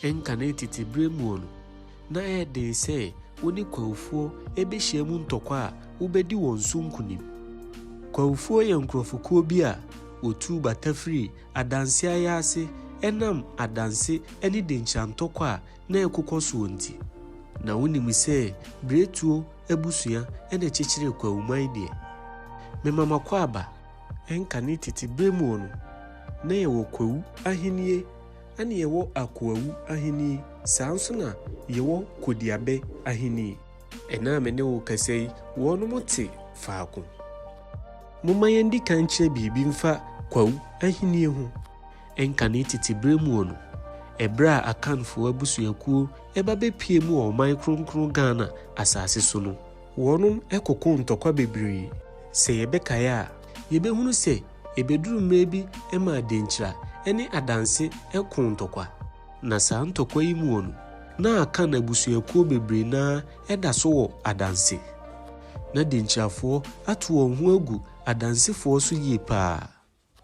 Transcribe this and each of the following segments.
Ɛnkane tete berɛ mu no, na ɛyɛ den sɛ wo ne Kwawofoɔ bɛhyia mu ntɔkwa a wobɛdi wɔn so nkonim. Kwawofoɔ yɛ nkorɔfokuo bi a wɔtuu bata firii adanse ayɛ ase ɛnam adanse ne denkyira ntɔkwa a na ɛrekokɔ soɔ nti. Na wonim sɛ Biretuo abusua na ɛkyekyeree Kwawoman deɛ. Mema m'akwaaba. Ɛnkane tete berɛ mu no, na yɛwɔ Kwawu ahennie Ɛne yɛwɔ akoawu ahenni, saa nso na yɛwɔ kodiabɛ ahenni. Ɛnnɛ a me ne wo rekasa yi, wɔnom te faako. Momma yɛndi kan nkyerɛ biribi mfa kwawu ahenni ho. Ɛnka ne tete berɛ muo no, ɛberɛ a Akanfoɔ abusuakuo ba bɛpueem wɔ ɔman kronkron Ghana asase so no, wɔnom kokoo ntɔkwa bebree. Sɛ yɛbɛkae a, yɛbɛhunu sɛ Ebeduru mmerɛ bi ɛma adenkyira ne adanse ko ntɔkwa. Na saa ntɔkwa yi muɔ no, na Akan abusuakuo bebree no ara da so wɔ adanse. Na denkyirafoɔ ato wɔn ho agu adansefoɔ so yie paa.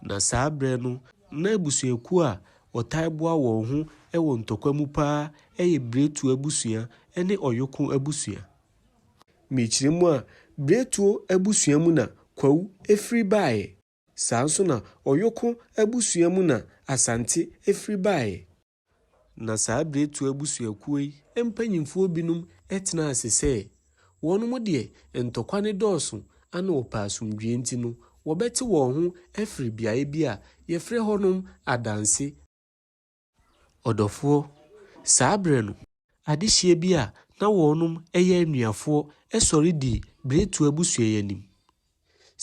Na saa berɛ no, na abusuakuo a wɔtae boa wɔn ho wɔ ntɔkwa mu paa yɛ Biretu abusua ne Ɔyoko abusua. Mekyerɛ mu a, Bretoo abusua mu na Kwawu firi baeɛ. Saa nso na Ɔyoko abusua mu na Asante firi baeɛ. Na saa Bretoo abusuakuo yi mpanyimfoɔ binom tenaa ase sɛ, wɔnom deɛ ntɔkwa no dɔɔso ana wɔpɛ asomdwoeɛ nti no, wɔbɛte wɔn ho afiri beaeɛ bi a wɔfrɛ hɔnom Adanse. Ɔdɔfoɔ, saa berɛ no, adehyeɛ bi a na wɔnom yɛ anuafoɔ sɔre dii Bretwa abusua yi anim.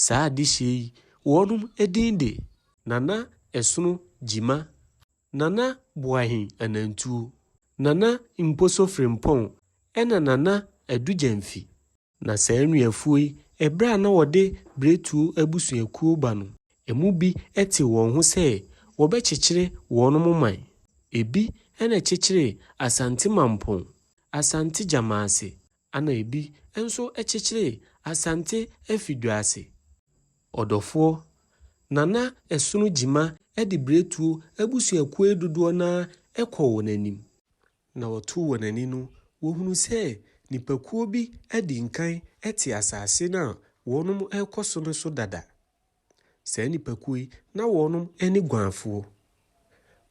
Saa adehyeɛ yi wɔnom din de. Nana Ɛsono Gyima, Nana Boahen Anantuo, Nana Mposo Frimpong ɛna Nana Adu Gyamfi. Na saa nnuafuo yi, ɛberɛ a na wɔde Biretuo abusuakuo ba no, ɛmu bi tee wɔn ho sɛ wɔbɛkyekyere wɔnom man. Ɛbi na ɛkyekyeree Asante Mampong, Asante Gyamaase, ɛna ɛbi nso kyekyeree Asante Afidwaase. Ɔdɔfoɔ, Nana Ɛsono Gyima de Biretuo abusuakuo yi dodoɔ no ara kɔɔ wɔn anim. Na wɔtoo wɔn ani no, wɔhunuu sɛ nnipakuo bi adi nkan te asase no a wɔnom rekɔ so no so dada. Saa nnipakuo yi, na wɔnom ne guanfoɔ.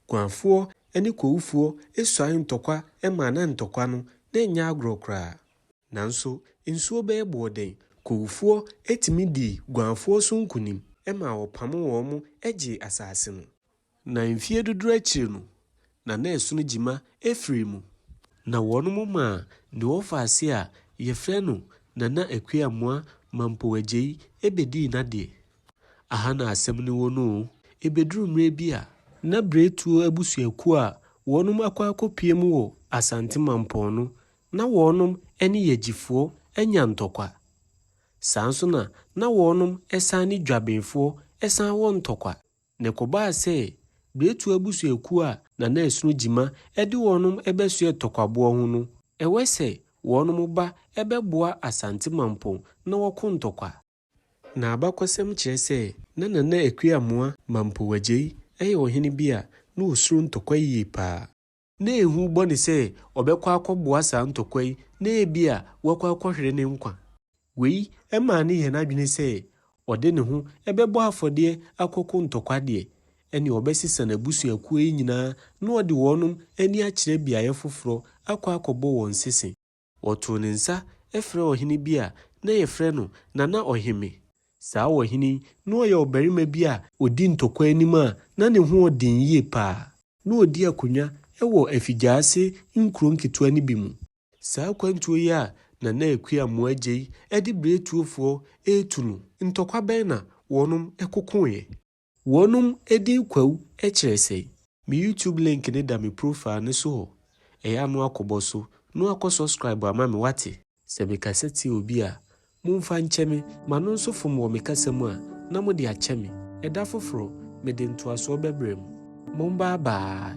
Guanfoɔ ne kowufoɔ suae ntɔkwa maa na ntɔkwa no, na ɛnyɛ agorɔ koraa. Nanso nsuo bɛyɛ boɔ dɛn, kowufoɔ tumi dii guanfoɔ so nkunim maa wɔpamoo wɔn gyee asase no. Na mfie dodoɔ akyiri no, na na ɛsono gyima afiri mu. Na wɔn mo maa deɛ ɔfa ase a yɛfrɛ no Nana Akua-Amoah Mampong-Agyei bɛdii n'adeɛ. Aha na asɛm no wɔ no o. Ɛbɛduru mmerɛ bi a. Na Bretuo abusuakuo a wɔnom akɔ akɔpue mu wɔ Asante Mampong no, na wɔnom ne Yagyifoɔ anya ntɔkwa. Saa nso na na wɔnom san ne Dwabenfoɔ san wɔ ntɔkwa. Na ɛkɔbaa sɛ Beretua abusuakuo a na na ɛsono Gyima de wɔnom bɛsoɛ Tɔkwaboɔ ho no, ɛwɛ sɛ wɔnom ba bɛboa Asante Mampong na wɔko Ntɔkwa. Na abakɔsɛm kyerɛ sɛ na Nana Akua Amoah Mampong Agyei yɛ ɔhene bi a na ɔsuro Ntɔkwa yie paa. na ehu bɔ no sɛ ɔbɛkɔ akɔboa saa ntɔkwa yi na ebia wakɔ akɔhwere ne nkwa. Wei maa no yɛɛ n'adwene sɛ ɔde ne ho bɛbɔ afɔdeɛ akɔko ntɔkwa deɛ, ɛnneɛ ɔbɛsesa n'abusuakuo yi nyinaa na ɔde wɔnom ani akyerɛ beaeɛ foforɔ akɔ akɔbɔ wɔn sese. Wɔtoo ne nsa frɛɛ ɔhene bi a na yɛfrɛ no Nana Ɔheme. Saa ɔhene yi, na ɔyɛ ɔbarima bi a. Ɔdi ntɔkwa anim a na ne ho wɔ den yie paa. Na ɔdi akonnwa wɔ afigyaase nkuro nketewa no bi mu. Saa akwantuo yi a Nana Akua Mmoagyei de Biretuofoɔ retu no, ntɔkwa bɛn na wɔnom kokoeɛ? Wɔnom edin Kwawu kyerɛ sɛn? Me YouTube link no da me profile no so hɔ, ɛyɛ a no a kɔbɔ so, no a kɔ subscribe ama me wate? Sɛ me kasa tia obi a, momfa nkyɛ me. Ma no nso fom wɔ me kasa mu a, na mode akyɛ me. Ɛda foforɔ, mede ntoasoɔ bɛbrɛ mo. Mombaa baa.